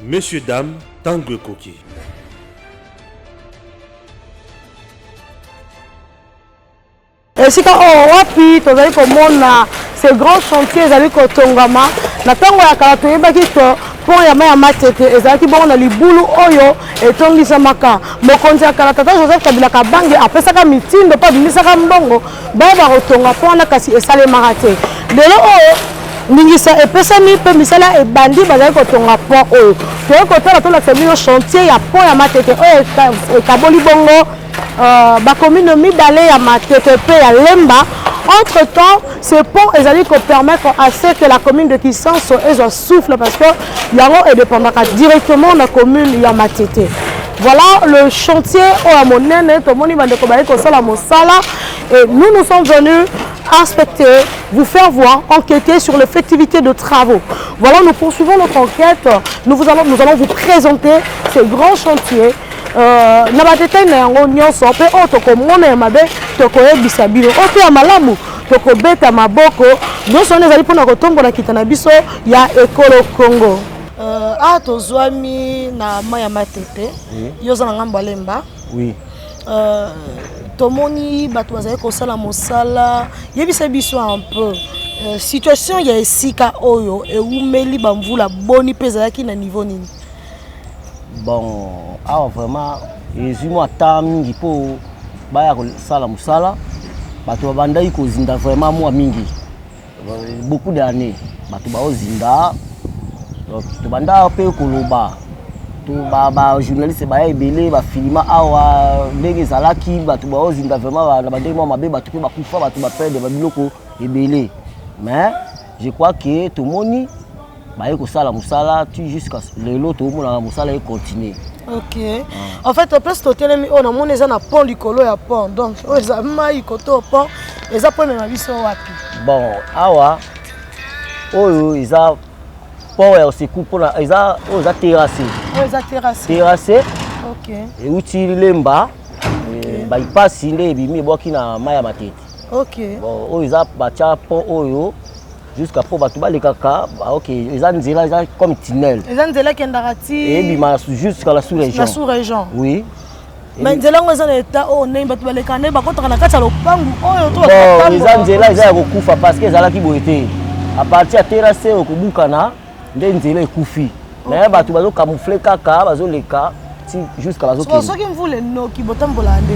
Messieurs, dames, tango ekoki. esika oyo oh, wapi tozali komona ce grand chantier ezali kotongama na ntango ya kala toyebaki to pont ya mai ya matete ezalaki bongo na libulu oyo etongisamaka mokonzi ya kala tata joseph kabila kabange apesaka mitindo mpe abimisaka mbongo Baye bakotonga mpo wana kasi esalemaka te lelo oyo oh, ndingisa epesami mpe misala ebandi bazali kotonga pont oyo toyei kotala tolakisa bino chantier ya pont ya matete oyo ekaboli bongo euh, bakomino mibale ya matete mpe ya lemba entre temps ce pont ezali kopermettre à ce que la commune de kisanso ezwa souffle parce que yango edépendaka directement na commune ya matete voilà le chantier oyo ya monene tomoni bandeko baye kosala mosala et nous nous sommes venus inspecter vous faire voir enquêter sur l'effectivité de travaux voilà nous poursuivons notre enquête nous, vous allons, nous allons vous présenter ce grand chantier Euh, na badetail na yango nyonso mpe oyo tokomona ya mabe tokoyebisa bino oyo mpe ya malamu Tokobeta maboko nyonso wana ezali mpona kotombola kita na biso ya ekolo Congo. Uh, ah tozwami na mai ya matete oui. yo oza na ngambo ya lemba oui. uh, tomoni bato bazali kosala mosala yebisa biso un peu uh, situation ya esika oyo ewumeli bamvula boni mpe ezalaki na niveau nini bon awa vraiment ezwi mwa temps mingi mpo baya kosala mosala bato babandaki kozinda vraiment mwa mingi beaucoup d'année bato baozinda donc tobanda mpe koloba bajournaliste baya ebele bafilima awa ndenge ezalaki bato baozinda vraiment na bandenge mwa mabe bato mpe bakufa bato baperde babiloko ebele mais je crois que tomoni baye kosala mosala tu jusqu'à lelo tomonaka mosala ye continue ok ah. en fait place totelemi oyo namoni eza na pont likolo ya pont donc oyo eza mai koto pont eza mpo emema biso wapi bon awa oyo eza port ya oseku mpona eza oyo eza terrasse oyo eza terrasse terrasse ok euti lemba eh, baipasi nde ebimi ebwaki na mai ya matete ok bon oyo eza batya pont oyo jusqu'à po bato balekaka ok eza nzela eza comme tunnel eza nzela ekendaka ti ebima jusqu'à la sous région la sous région oui mais nzela yango eza na état oyo ndenge bato balekaka nde bakotaka na kati ya lopangu oyo to eza nzela eza ya kokufa parce que ezalaki boye te à partir ya terrasse okobukana nde nzela ekufi naye bato bazo camoufle kaka bazoleka ti jusqu'à bazokende soki mvula enoki botambola nde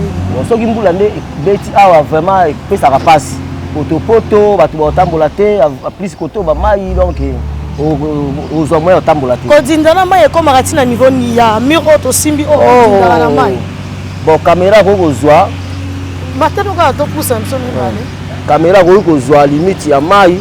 soki mvula nde ebeti awa vraiment epesaka mpasi potopoto bato baotambola te plus koto bamai donc eh, ozwa moyen otambola te kodinda na mai ekomaka ti na niveau ya mur oyo tosimbi oyo oh, odindaka na mai bon kamera akoki kozwa batano kaka topusa biso mibale kamera akoki kozwa limite ya mai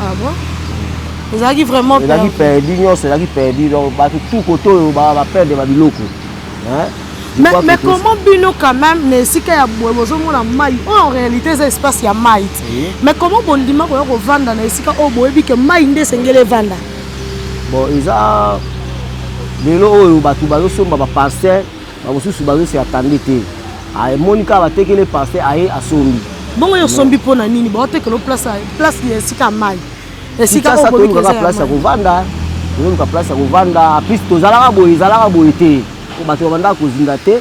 Ah bon ezalaki vraiment ezalaki perdu nyonso ezalaki perdu donc bato tout kote oyo baperdre babiloko mais, mais comment bino quand même na esika ya boye bozomona mai oyo oh, en réalité eza espace ya mai te mais comment bondima koya kovanda na esika oyo oh, boyebi ke mai nde esengeli evanda bon eza lelo oyo bato bazosomba baparcelle Bamosusu bazo se attendre te. Ah, emoni kaka batekele pasteur aye asombi. Bongo yo sombi mpo na nini? Baotekelo place place ya esika mai. Esika oyo bobi kaka place ya kovanda. Toyoluka place ya kovanda. Plus tozalaka boye, ezalaka boye te. Mpo bato babandaka kozinda te.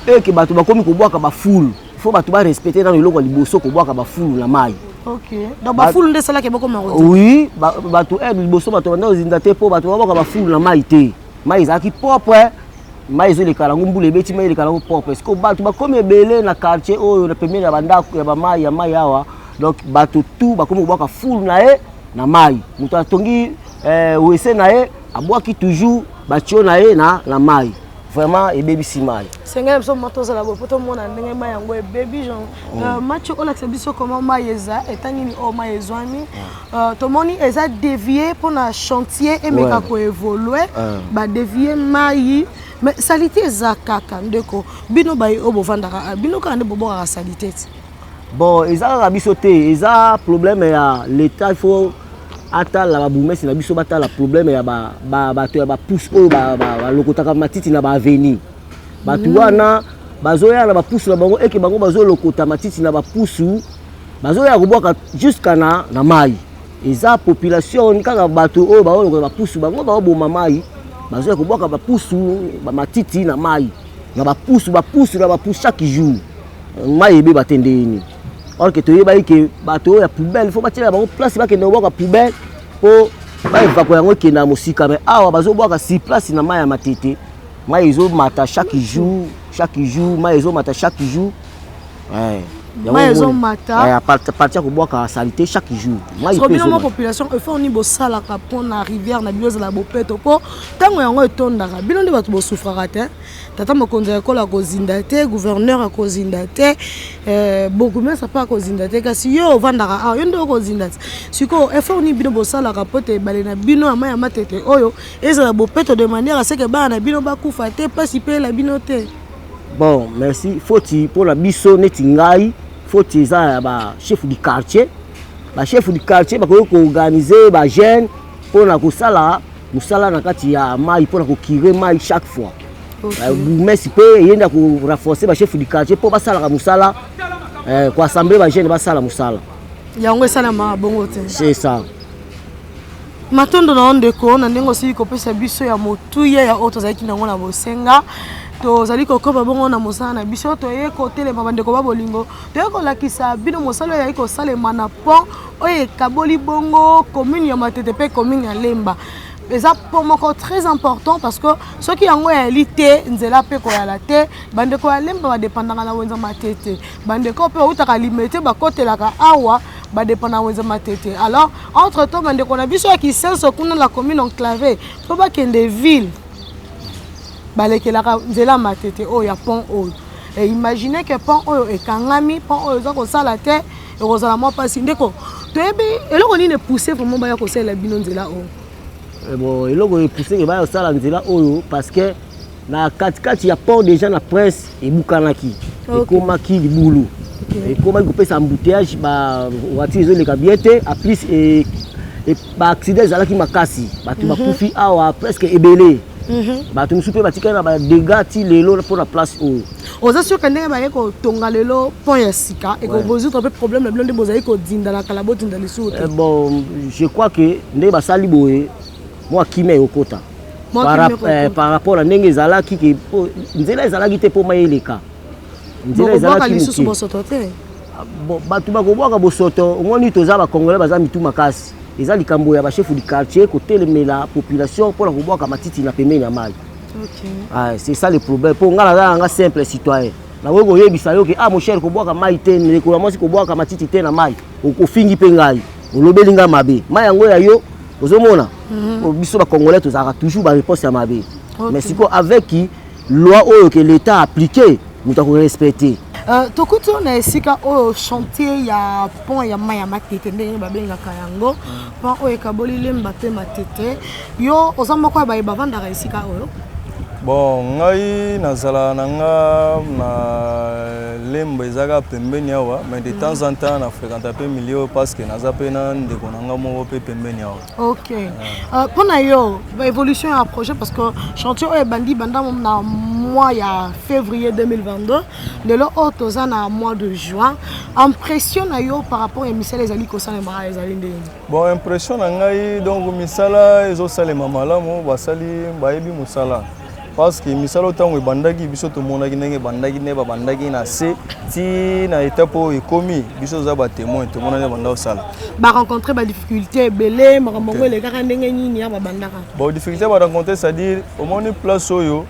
Mpe ke bato bakomi kobwaka bafulu. Fo bato ba respecte nano eloko ya liboso kobwaka bafulu na mai. Okay. Donc ba fulu nde salaki boko maro. Oui, ba bato eh liboso bato banda ozinda te po bato babaka ba fulu na mai te. mai ezalaki propre eh. mai ezoleka yango mbula ebeti mai eleka yango propre siko bato bakomi ebele na quartier oyo na pembeni ya bandako ya bamai ya mai awa donc bato tout bakomi kobwaka foule na ye na mai moto atongi eh, wese na ye abwaki toujours batio na ye na, na mai vraiment ebebisi mai senga na biso ma tozala boye mpo tomona ndenge mai yango ebebi genre mm. euh, match olakisa biso comment mai eza etangi nini oyo oh, mai ezwami mm. Uh, tomoni eza devie mpo na chantier emeka ouais. koevolue uh. Ah. badevie mai mais salite eza kaka ndeko bino baye oyo bovandaka ah, bino kaka nde bobokaka salite ti bon eza kaka biso te eza problème ya l'état il faut atala babumesi na biso batala problème ya bato ya bapousse oyo balokotaka matiti na baavenue bato mm. wana bazoya na bapousu na bango eke bango bazolokota matiti na bapusu bazoya kobwaka jusqu'à na, na mai eza population kaka bato oyo baolokola bapusu bango baoboma mai bazoya kobwaka bapusu bamatiti na mai na bapusu bapusu na bapusu chaque jour mai ebeba te nde yini or ke toyebaki ke bato oyo ya poubelle fo batiela bango place bakende kobwaka poubelle mpo baevako yango ekenda ya mosika mai awa bazobwaka si place na mai ya matete mai ezomata chaque jour chaque jour mai ezomata chaque jour Eh, mai ezomata eh, parti ya kobwaka salite chaque jour bino mwa population effort nini bosalaka mpo na rivière na bino ezala bopeto mpo ntango yango etondaka bino nde bato bosufraka te tata mokonzi ya ekolo akozinda te gouverneur akozinda te eh, bourgmestre mpe akozinda te kasi yo ovandaka awa yo nde okozinda te sikoyo effort nini bino bosalaka mpo te ebale na bino ya mai ya matete oyo ezala bopeto de manière aseke bana na bino bakufa te mpasi mpe ela bino te Bon merci foti pona biso neti ngai foti eza ya ba chef du quartier ba chef du quartier bakoki koorganize ba jeune mpona kosala mosala na kati ya mai mpona kokire mai chaque fois euh, bourgmestre mpe ye nde akorenforce ba chef du quartier mpo basalaka mosala euh, koassemble ba jeune basala mosala yango esalamaka bongo te c'est ça matondo na yo ndeko na ndenge osili kopesa biso ya motuya ya oyo tozalaki nango na bosenga tozali kokoba bongo na mosala na biso toye kotelema bandeko ba bolingo toye kolakisa bino mosala oyo ezali kosalema na pont oyo ekaboli bongo commune ya matete mpe commune ya lemba eza po moko très important parce que soki yango eyali te nzela mpe koyala te bandeko ya lemba badepandaka na wenza matete Bandeko pe bautaka limete bakotelaka awa badepa na wenze matete alors entre temps bandeko na biso ya kisenso kuna la commune enclave mpo bakende ville balekelaka nzela matete oyo ya pont oyo e imagine ke pont oyo ekangami pont oyo eza kosala te ekozala mwa mpasi ndeko toyebi eloko nini epousse vraiment baya kosalela bino nzela oyo eh bon eloko epousse ke baya kosala nzela oyo parce que na katikati ya port déjà na presse ebukanaki okay. ekomaki libulu okay. ekomaki kopesa embouteillage ba voiture ezoleka bien te a plus e, e, ba accident ezalaki makasi bato mm -hmm. bakufi awa presque ebele mm -hmm. bato mosusu mpe batikali na badega ti lelo mpo na place oyo oza surke ndenge baye kotonga lelo pont ya sika ekozotra mpe problème na bino nde bozali kodinda na kala bodinda lisusu te eh, bon je crois que ndenge basali boye mwa kimia ekokota eh, par rapport na ndenge ezalaki ke nzela ezalaki te mpo mai eleka nzela ezalaki lisusu bosoto te ah, bato bakobwaka bosoto omoni toza bacongolais baza mitu makasi eza likambo ya bashefu du quartier kotelemela population mpo na kobwaka matiti na pembeni ya mai okay. ah, c'est ça le problème mpo ngai naza nanga simple citoyen nakoki koyebisa yo ke ah mon cher kobwaka mai te ndeko ya mwasi kobwaka matiti te na mai okofingi mpe ngai olobeli nga mabe ma yango ya yo ozomona mm -hmm. biso bacongolais tozalaka toujours bareponse ya mabe okay. mais sikoyo avec loi oyo ke l'état appliqué moto akorespecte Euh, tokuti oyo na esika oyo chantier ya pont ya mai ya matete ndenge babengaka yango pont oyo ekaboli lemba mpe matete Yo oza moko ya baye bavandaka esika oyo? Bon, ngai nazala na nga na lemba ezaka pembeni awa mais de temps en temps na fréquenta mpe milieu parce que naza mpe na ndeko na nga moko mpe pembeni awa ok euh, mpo na yo évolution ya projet parce que chantier oyo ebandi banda na mois ya février 2022 lelo oyo toza na mois de juin impression na yo par rapport ya misala ezali kosalema ezali ndenge Bon impression na ngai donc misala ezosalema malamu basali bayebi mosala parce que misala ntango ebandaki biso tomonaki ndenge ebandaki nde babandaki na se ti na etape oyo ekomi biso toza batemoin tomona nde banda kosala barencontre badifficulté ebele makambo yango elekaka ndenge nini ya babandaka bon difficulté barencontre c'est-à-dire omoni place oyo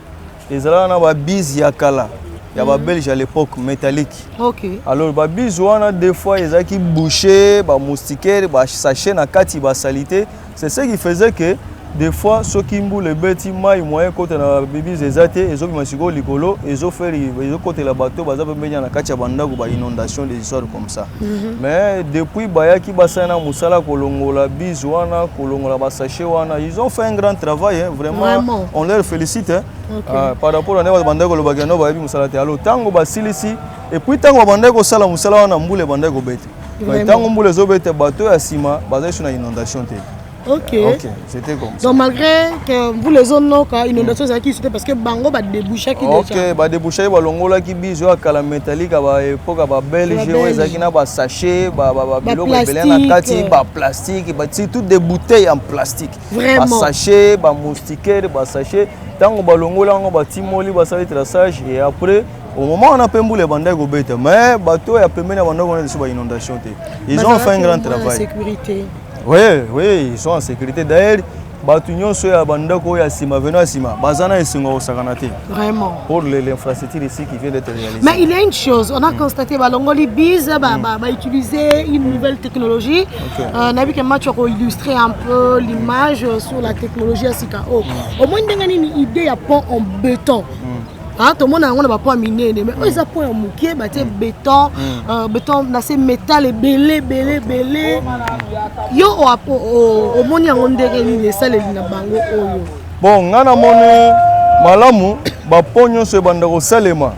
Ezalaka na ba bise ya kala ya ba mhm. belge à l'époque métallique. OK. Alors ba bise wana des fois ezaki boucher, ba moustiquaire, ba sachet na kati ba salité, c'est ce qui faisait que des fois soki mbula ebeti mai moyen kota na bibise eza te ezobima sikoyo likolo ezoferi ezokotela bato baza pembeni na kati ya bandako ba inondation des histoires comme Mhm. mais depuis bayaki basali na mosala kolongola bise wana kolongola basachet wana ils ont fait un grand travail hein, vraiment, vraiment on leur félicite hein. okay. uh, par rapport na ndenge babandaki kolobaka yango bayebi mosala te alo ntango basilisi epuis ntango babandaki kosala mosala wana mbula ebandaki kobete ntango mbula ezobete bato ya nsima bazali so na inondation te Ok. Ok, c'était comme ça. Donc malgré que vous les zones noka inondation ezalaki ici te parce que bango ba débouchaki déjà. Ok, ba débouchaki ba longolaki biso ya kala métallique ba époque ba belge oyo ezalaki na ba sachet ba ba ba biloko ebele na kati ba plastique ba ti toutes des bouteilles en plastique. Vraiment. Ba sachet, ba moustiquaires, ba sachet tango ba longola yango ba timoli ba sali traçage et après au moment wana mpe mbula ebandaki kobeta mais bato ya pembeni ya bandako wana lisusu ba inondation te ils ont fait un grand travail sécurité Oui, oui, ils sont en sécurité. D'ailleurs, bato nyonso ya bandako oyo ya nsima veno ya nsima baza na esengo ya kosakana te vraiment pour l'infrastructure ici qui vient d'être réalisé mais il y a une chose on a mm. constaté balongoli bise bautiliser ba, ba une nouvelle technologie okay. euh, nayebi ke match oko illustrer un peu l'image sur la technologie ya sika oyo oh. mm. omoi ndenge nini idée ya pont en béton mm. Ah, tomona yango na bapo ya minene mai oyo eza po ya moke batie mm. beton mm. euh, beton na se metal ebele ebele ebele yo omoni yango ndenge nini esaleli na bango oyo bon ngai namoni malamu bapo nyonso ebanda kosalema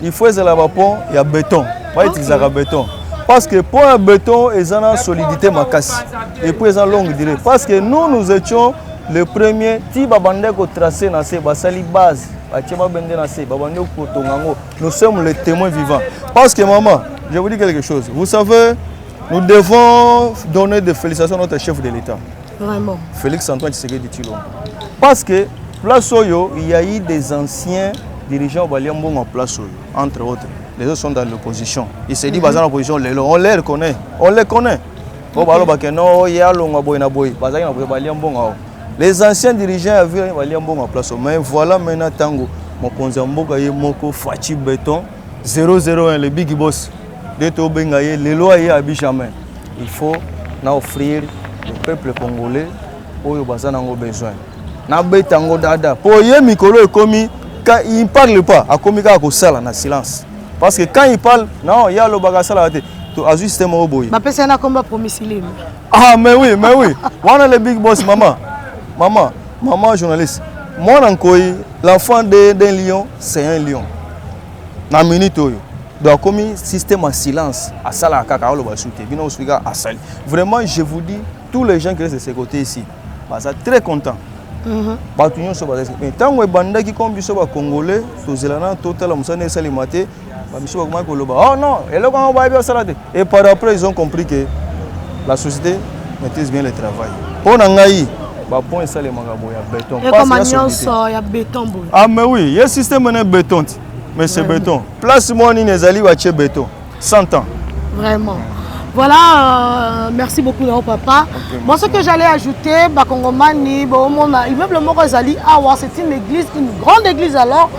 il faut ezala bapo ya beton baitilisaka beton parce que pont ya beton eza na solidité makasi et puis eza longue durée parce que nous nous étions le premier ti babandaki kotrace na se basali base batie mabende na se babandi kotonga yango nous sommes les témoins vivants parce que maman je vous dis quelque chose vous savez nous devons donner des félicitations à notre chef de l'état vraiment félix antoine tshisekedi tshilombo parce que place oyo il y a eu des anciens dirigeants balia mbongo en place oyo entre autres les autres sont dans l'opposition il s'est dit mm -hmm. baza na opposition lelo on les reconnaît on les connaît po balobake no ye alongwa boye na boye bazalaki na boye balia mbongo awa Les anciens dirigeants ya ville balia mbongo ya place mais voilà maintenant tango mokonzi ya mboka ye moko Fatshi Beton 001 le big boss de tobenga ye lelo aye abi jamais il faut na offrir le peuple congolais oyo baza nango besoin nabeta yango dada mpo ye mikolo ekomi quand il parle pas akomi kaka kosala na silence parce que quand il parle non ye alobaka asalaka te azwi système moko boye bapesa ye na komba promisilime Ah, mais oui, mais oui. Wana le big boss, maman. Maman, maman journaliste. Moi, Nankoy, l'enfant d'un lion, c'est un lion. Na minute oyo. Donc, comme système en silence, à ça, la caca, le basouté, bino, souiga, à sali. Vraiment, je vous dis, tous les gens qui restent de ce côté ici, bah, ça très content. Mhm. bato nyonso bazali mais ntango ebandaki comme biso bacongolais tozela na totala mosala na esalema te Ba misusu bakomaki koloba oh non eloko yango bayebi osala te et par après ils ont compris que la société maîtrise bien le travail mpo na ngai bapont esalemaka boye ya beton ekoma nyonso ya beton boye ah mais oui ye système ne beton ti mais c'est beton place moko nini ezali batie beton 100 ans vraiment Voilà, euh, merci beaucoup Nao Papa. Okay, bon, ce que j'allais ajouter, Bakongomani, bon, mon immeuble Moro Zali, ah, c'est une église, une grande église alors,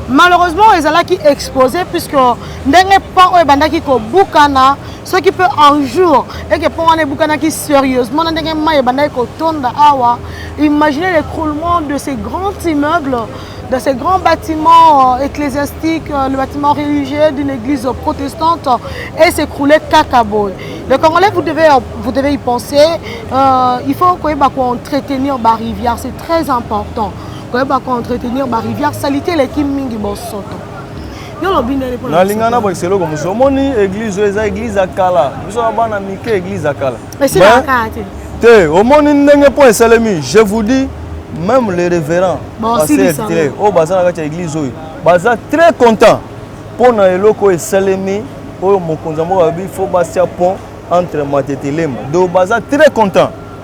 malheureusement ezalaki expose puisque ndenge pont oyo ebandaki kobukana soki mpe un jour eke mpo wana ebukanaki sérieusement na ndenge mai ebandaki kotonda awa imaginez l'écroulement de ces grands immeubles dans ces grands bâtiments euh, ecclésiastiques, euh, le bâtiment religieux d'une église protestante euh, et s'écrouler Kakabo. Le Congolais, vous devez, vous devez y penser. Euh, il faut qu'on entretenir la rivière, c'est très important. koyeba ko entretenir ba rivière salite eleki mingi bosoto nalinga na bwakisa eloko mosusu omoni église oyo eza église ya kala biso na bana mike église ya kala te omoni ndenge mpo esalemi je vous dis même les révérends basertre oyo baza na kati ya église oyo baza très content mpo na eloko oyo esalemi oyo mokonzi ya mboka alobi fo basia pont entre matete lemba donc baza très content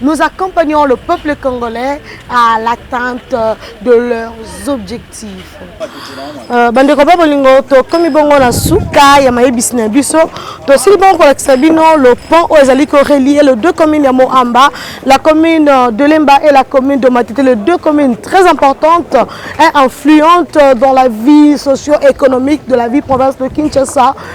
Nous accompagnons le peuple congolais à l'atteinte de leurs objectifs. Euh, bandeko ba bolingo tokomi bongo na suka ya mayebisi na biso tosili bongo kolakisa bino le pont oyo ezali korelier le deux communes ya moamba la commune de lemba et la commune de matete les deux communes très importantes et influentes dans la vie socio-économique de la vie province de kinshasa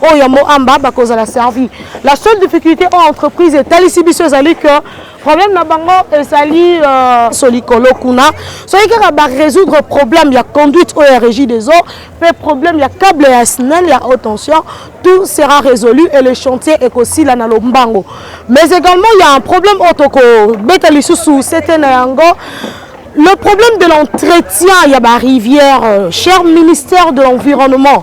oyo ya moamba bakozala servi la seule difficulté oyo entreprise etalisi biso ezali que problème na bango ezali euh, so likolo kuna soki kaka barésoudre problème ya conduite oyo ya régie des eaux mpe problème ya cable ya snel ya haute tension tout sera résolu et le chantier ekosila na lombango mais également il y a un problème oyo tokobeta lisusu sete na yango le problème de l'entretien ya barivière euh, cher ministère de l'environnement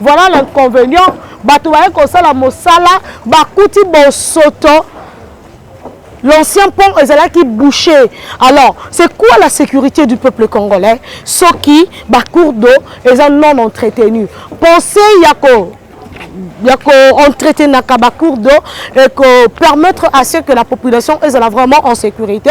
Voilà l'inconvenient, bato baye kosala mosala bakuti bosoto l'ancien pont ezalaki bouché alors c'est quoi la sécurité du peuple congolais soki bacour d'eau eza non entretenu pensez ya ko ya koentretenaka bacour d'eau ekopermettre à ce que la population ezala vraiment en sécurité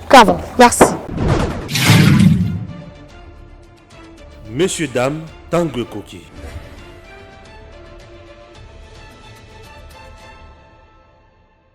Cava, merci. Messieurs, dames, tango ekoki.